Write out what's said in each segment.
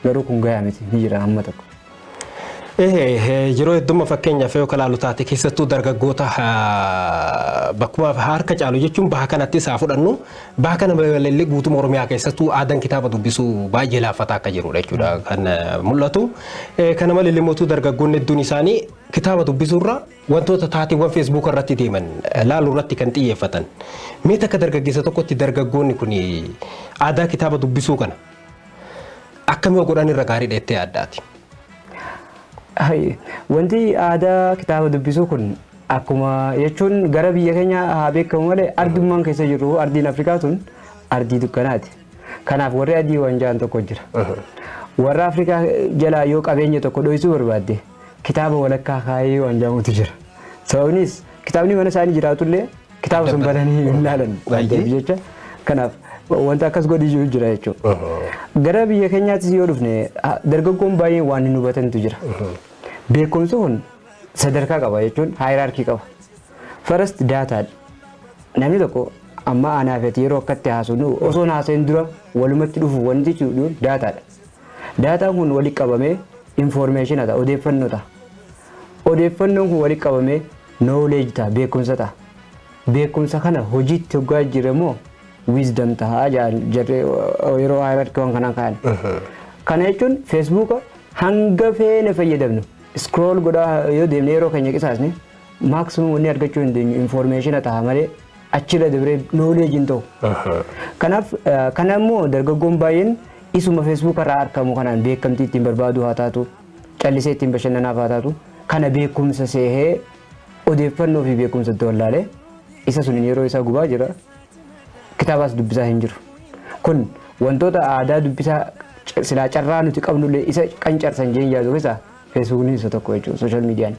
Garuu kun gayaa miti ni jira amma tokko. Yeroo heddumma fakkeenyaaf yoo kalaalu taate keessattuu dargaggoota bakkuma harka caalu jechuun baha kanatti isaa fudhannu baha kana balaliillee guutuma Oromiyaa keessattuu aadaan kitaaba dubbisuu baay'ee laaffataa akka jirudha jechuudha kan mul'atu. Kana malee immoo dargaggoonni hedduun isaanii kitaaba dubbisuurra Wantoota taateewwan Feesbuuka irratti deeman laaluu irratti kan xiyyeeffatan. Mee takka dargaggeessa tokkotti dargaggoonni kun aadaa kitaaba dubbisuu kana akkam yoo godhan irra gaariidha jettee yaaddaati? Hai, Wanti aadaa kitaaba dubbisuu kun akkuma jechuun gara biyya keenya haa beekamu malee ardummaan keessa jirru ardiin Afrikaa tun ardii dukkanaati. Kanaaf warri adii waan ja'an tokko jira. Warra Afrikaa jalaa yoo qabeenya tokko dhoysuu barbaadde kitaaba walakkaa kaayee waan jedhamutu jira. Sababnis kitaabni mana isaanii jiraatullee kitaaba sun bananii hin ilaalan waan ta'eef jecha kanaaf wanta akkas godhi jiru jira jechuudha. Gara biyya keenyaattis yoo dhufne ha- dargaggoon baay'een waan hin hubatantu jira. Beekumsi kun sadarkaa qaba jechuun haayiraarkii qaba. First daataa namni tokko amma aanaa fi ati yeroo akkatti haasofnu osoo hin haasa'in dura walumatti dhufu wanti jechuudha daataadha. Daataan kun walitti qabamee information ta'a, odeeffannoo ta'a. Odeeffannoon kun walitti qabamee knowledge ta'a, beekumsa ta'a. Beekumsa kana hojiitti hoggaa jijjiirre immoo wisdom ta'a jedhan jarri yeroo hierarchy waan kanaan ka'an. Kana jechuun feesbuuka hanga feene fayyadamnu scroll godhaa yoo deemne yeroo keenya qisaasne maximum wanni argachuu hin dandeenyu information ta'a malee achirra dabree knowledge hin ta'u. Kanaaf kana immoo dargaggoon baay'een isuma Facebook irraa argamu kanaan beekamtii ittiin barbaadu haa taatu callisee ittiin bashannanaaf haa taatu kana beekumsa seehee odeeffannoo fi beekumsa itti wallaalee isa suniin yeroo isaa gubaa jira kitaabaas dubbisaa hin jiru. Kun wantoota aadaa dubbisaa silaa carraa nuti qabnullee isa qancarsan jeen yaadu keessaa Feesbuukni isa tokko jechuudha sooshaal miidiyaan.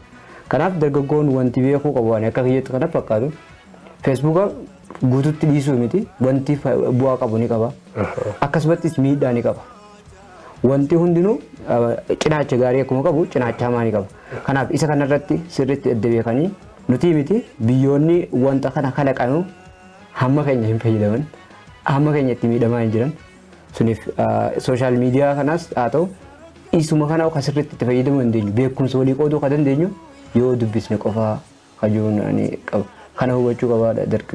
Kanaaf dargaggoon wanti beekuu qabu ani akka kiyyatti kana fakkaatu feesbuuka guututti dhiisuu miti wanti fa- bu'aa qabu ni qaba. Akkasumattis miidhaa ni qaba. Wanti hundinuu eh, cinaacha gaarii akkuma qabu cinaacha hamaa ni qaba. Kanaaf isa kanarratti sirriitti adda beekanii nuti miti biyyoonni wanta kana kalaqanu hamma keenya hin fayyadaman hamma keenya itti miidhamaa hin jiran Suniif sooshaal miidiyaa kanaas haa ta'u isuma kana kan sirriitti itti fayyadamuu dandeenyu beekumsa walii qooduu kan dandeenyu yoo dubbisne qofaa hajuun ani qaba. Kana hubachuu qabaadha dargaggeessi.